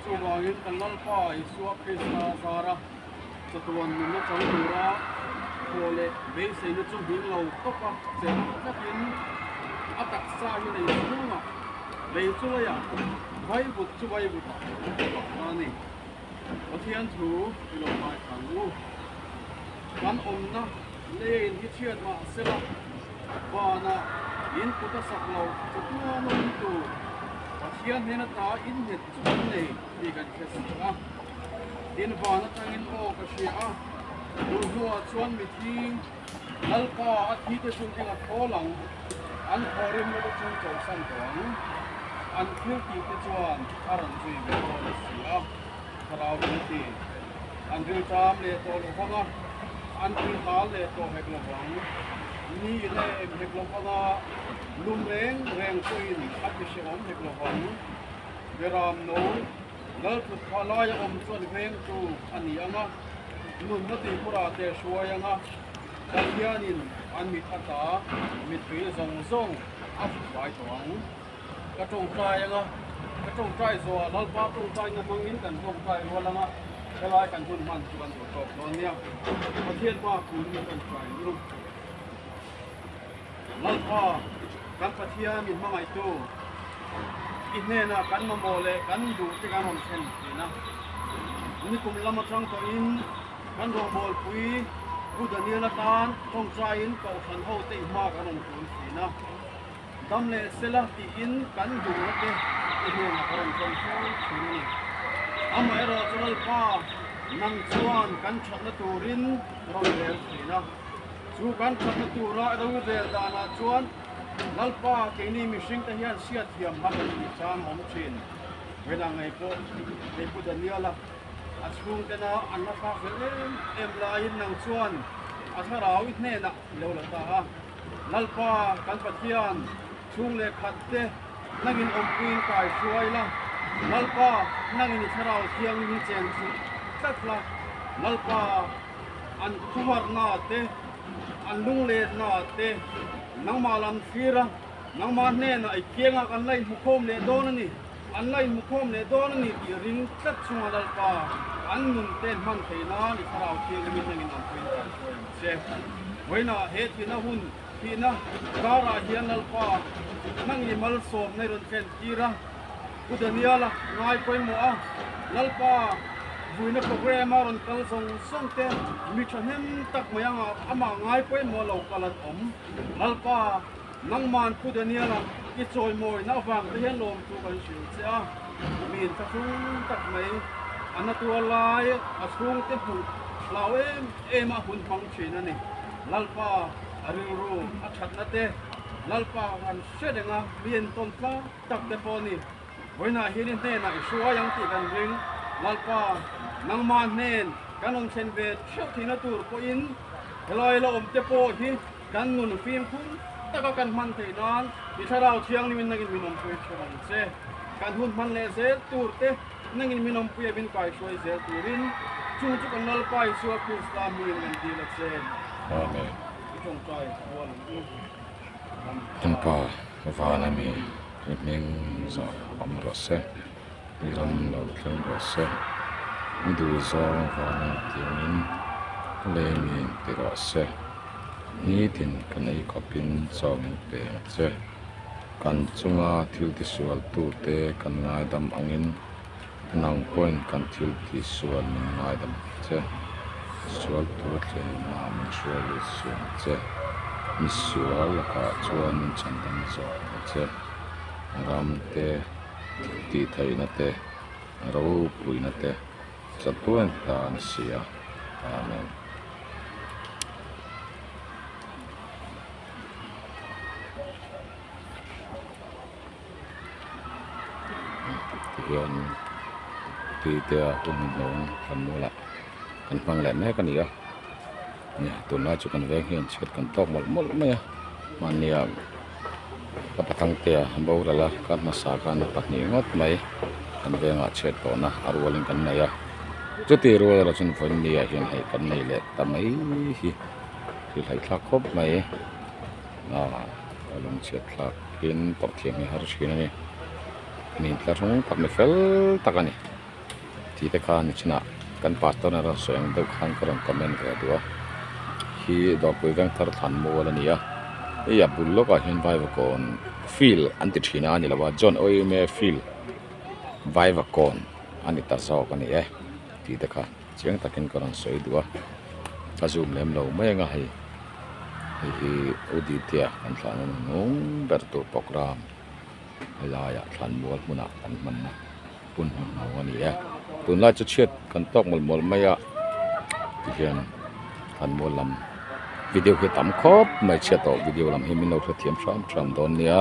Chuvangin kan Lalpa Isua Krista zara chatuan nunna chang tura khuah leh beiseina chu hming lo tawpa cheu tlakin a taksa hi nei chhunga bei chu lei a vaivut chu vaivut a tak ta ni. Pathian thu i lo ngaithlang u. Kan awmna. Leiin hi chhiat mah sela vanah in kut a sak lo chu tuam a awm tur Pathian hnena tta in nghet chu kan nei tih kan hre si a. Tin van atangin aw ka hria a, tun hnua chuan mithi lalpa a thi te chu enga thawl ang an thaw rim lova chun chawlhsan tawh ang an thil tih te chuan a rawn zui ve dawn a si a. Thlarau Tumti an ring tam leh tawh loh vang a, an ring hal leh tawh hek lo vang. Ni leh em hek lo vang a, lum reng reng pawhin a ti hre awm hek lo vang. Beram no lalthut kha lai a awm chuan vengtu a ni ang a, nunna tihpura te a hruai ang a, Pathianin an mit ata mitpui zawng zawng a fuhfai tawh ang. ka tawngtai ang a, ka tawngtai zawh a, Lalpa tawngtaina hmangin kan tawngtai rual ang a, helai kan hun hman chu kan duh tawk dawn nia, Pathian hma kul hi kan try ni u. Lalpa, kan Pathian min hmangaitu, i hnenah kan mamawh leh kan duh te kan rawn thlen thin a, ni kum lam atang tawhin kan rawbawlpui Buddha nial atan tawngtaiin koh hran ho te i hma kan rawn tlun thin a, Dam leh sela tiin kan bungraw te i hnem a ka rawn chawm hreu thin a ni. Amaherawh chu Lalpa, nang chuan kan thatna turin rawn rel thin a. Chu kan thatna tura i rawi rel danah chuan Lalpa, keini mihringte hian hriat thiam hak an nih chang a awm thin. Vela ngei pawh hei Pu Daniela a chhungte na an la fak zel em em laiin nang chuan a thlarau i hnenah i lo la ta a. Lalpa kan Pathian, chhung leh khat te nang in awm puiin kai hruai la. Lalpa, nang in i Thlarau Thiangin hi chen chhuh tlat la. Lalpa, an thuharna te, an lunglenna te nangmah la an thlir a, nangmah hnenah i kianga kan la inhmukhawm leh dawn a ni. An ngaih mu khawm leh dawn a ni tih ring tlat chunga Lalpa an nun ten hman thei nan i thlarau thiang emin hengin an puiin kan hruai ang che. Vawiinah he thihna hun thihna karah hian Lalpa hmang i malsawmna i rawn thlen tir a, U Daniela ngai pawimawh a, Lalpa vuina programme a rawn kal zawng zawng te mi thahnem tak mai angah amah ngai pawimawh lo kal an awm. Lalpa. Nangman Pu Daniel-a i chawimawina avang te hian lawm chu kan hrilh che a, min tha hrum tak mai, a na tuar lai a chhungte hmuh hlau em em a hun hmang thin a ni. Lalpa a rilru, a thatna te, Lalpa han hre reng a mi entawn tlat tak te pawh a ni. Vawiinah hian i hnenah i hruai ang tih kan ring, Lalpa nangma hnen kan rawn thlen ve theuh thihna tur pawhin helai la awm te pawh hi, Kan nun fimkhum taka kan hman theih nan i Thlarau Thianghlimin na inminawmpui a chhawm ang che. Kan hun hman leh zel tur te na inminawmpui a min kaihruai zel turin chung chu kan Lalpa Isua Krista hmingin kan dil a che. Amen. I tawngtai rual ang u. Amen. Lalpa, vana mi i hming zawh awm rawh se. lam lo thleng ve se i duh zawng vang ang tiin in a lei a nih tih rah se nitin kan ei khawp in chawk in peng che kan chunga thil ti sual tu te kan ngai dam ang in an ang pawh in kan thil ti sual min ngai dam ang che sual tur thleng in a min hriat lut suh ang che misual lakah chuan chan dam zawk ang che ram te. tihtheihna te ropuina te chatuain tan a si a amen. Tihianin tihte a hun hnawng kan nualah kan hmang leh mek a ni a tunlai chu kan veng hi an chhiat kan tawk mawlh mawlh mai a mahnia-- ka pathangtea boral a ka hmasa khan a pahnih ngawt mai kan vengah chhiat tawhna a rualin kan nei a chuti rual erawh chuan vawiin mi ah hian hei kan nei leh ta mai hi ri hleithlak khawp mai ah a lawm chhiat thlak in tawh thiam hi a har thin a ni a ni tla hrang tak ni fel tak a ni. tih te khan a thinah kan pastor nara sawi ang deuh khan ka rawn comment ve duh a khi dawrpui veng thar thlan mual a ni a hei a bul lawk ah hian vaivakawn field an ti thin a ni lo va John Oyeme field vaivakawn a ni ta zawk a ni e tih te kha chiang tak in ka rawn sawi duh a ka zoom lem lo mai ang a hei hei hi Uditia kan thlan na nung ber tur programme a lai ah thlan mual hmun ah kan hman na. Pun hnu hnu a ni e. Tunlai chu chhiat kan tawk mawlh mawlh mai a, ti hian kan mual lam video hi a tam khawp mai. Chhiat tawh video lam hi min lo hrethiam ṭham ṭham dawn nia.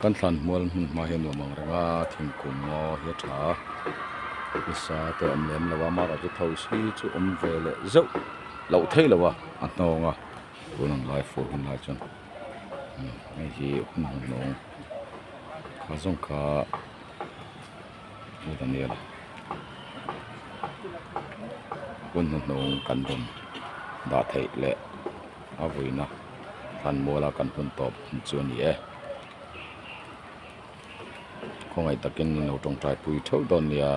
Kan thlan hmual hmun hma hi nuam ang reng a, thingkung maw hi a tha a, hmasa te awm lem lo a, mara te tho si chu awm ve leh zeuh loh theih lo a, a hnawng a, tun an lai fur hun lai chuan hei hi hun hun a awm kha zawng kha a dan nia hun hun a awm kan rawn dah theih leh a vawina. Hlan muala kan hun tawp chu a ni e. Khawngaih takin in lo tawngtai pui theuh dawn nia,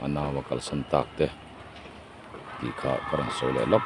a nau a kalsan tak te tih kha ka rawn sawi leh lawk.